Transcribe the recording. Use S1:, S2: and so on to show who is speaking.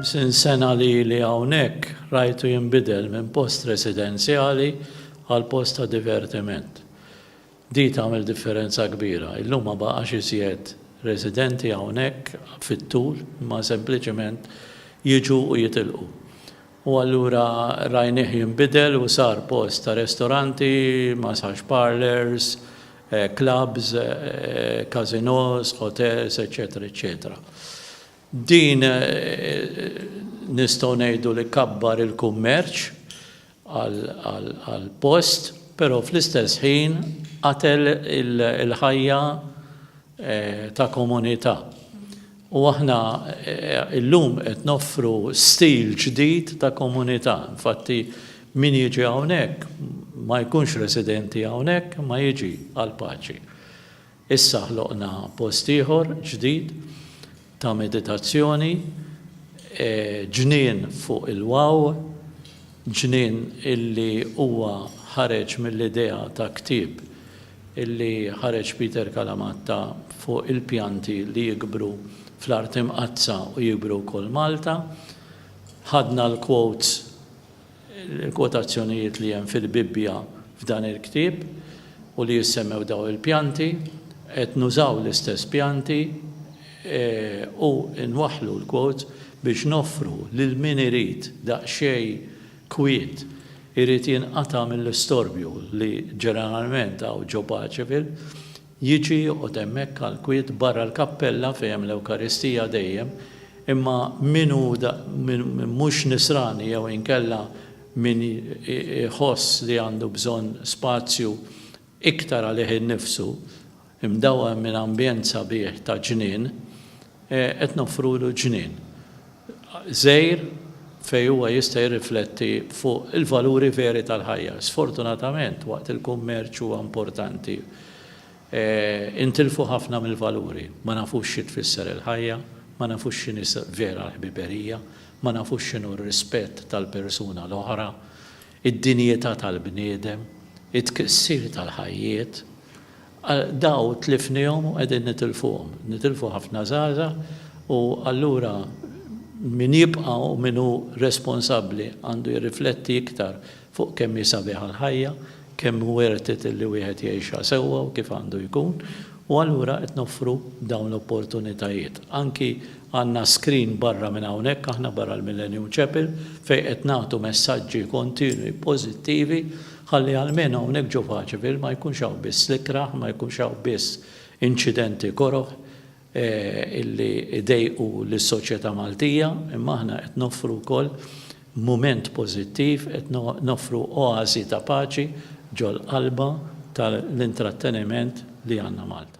S1: Ħamsin sena lili hawnhekk rajtu jinbidel minn post residenzjali għal post ta' divertiment. Di tagħmel differenza kbira. Illum ma baqax iżjed residenti hawnhekk fit-tul imma sempliċement jiġu u jitilqu. U allura rajnieh jinbidel u sar post ta' restoranti, massage parlours, clubs, casinos, hotels, eċċetera eċċetera. Din nistgħu ngħidu li kabbar il-kummerċ għall-post, però fl-istess ħin qatel il-ħajja ta' komunità. U aħna illum qed noffru stil ġdid ta' komunità. Infatti min jiġi hawnhekk ma jkunx residenti hawnhekk imma jiġi għall-paċi. Issa ħloqna post ieħor ġdid ta' meditazzjoni, ġnien fuq il-Waw, ġnien illi huwa ħareġ mill-idea ta' ktieb li ħareġ Peter Kalamatta fuq il-pjanti li jikbru fl-art imqaddsa u jikbru wkoll Malta. Ħadna l-quotes, il-kwotazzjonijiet li hemm fil-Bibbja f'dan il-ktieb u li jissemmew dawn il-pjanti. Qed nużaw l-istess pjanti u nwaħħlu l-quotes biex noffru lil min irid daqsxejn kwiet irid jinqata' mill-istorbju li ġeneralment hawn ġo Paceville, jiġi joqgħod hemmhekk għall-kwiet barra l-kappella fejn hemm l-Ewkaristija dejjem, imma min hu mhux Nisrani jew inkella min iħoss li għandu bżonn spazju iktar għalih innifsu, imdawwem minn ambjent sabiħ ta' ġnien, qed noffrulu ġnien żgħir fejn huwa jista' jirrifletti fuq il-valuri veri tal-ħajja. Sfortunatament, waqt il-kummerċ huwa importanti, intilfu ħafna mill-valuri. Ma nafux xi tfisser il-ħajja, ma nafux x'inhi vera l-ħbiberija, ma nafux x'inhu r-rispett tal-persuna l-oħra. id-dinjità tal-bniedem, it-tkissir tal-ħajjiet, dawn tlifniehom u qegħdin nitilfuhom. Nitilfu ħafna żgħażagħ u allura min jibqa' u min hu responsabbli għandu jirrifletti iktar fuq kemm hi sabiħa l-ħajja, kemm hu worth it li wieħed jgħixha sewwa u kif għandu jkun u allura qed noffru dawn l-opportunitajiet. Anki Għandna screen barra minn hawnhekk aħna barra l-Millennium Chapel fejn qed nagħtu messaġġi kontinwi pożittivi ħalli almenu hawnhekk ġo Vacaville ma jkunx hawn biss l-ikrah, ma jkunx hawn biss inċidenti koroh illi jdejqu lis-soċjetà Maltija imma aħna qed noffru wkoll mument pożittiv, qed noffru oasi ta' paċi ġol-qalba tal-intratteniment li għandna Malta.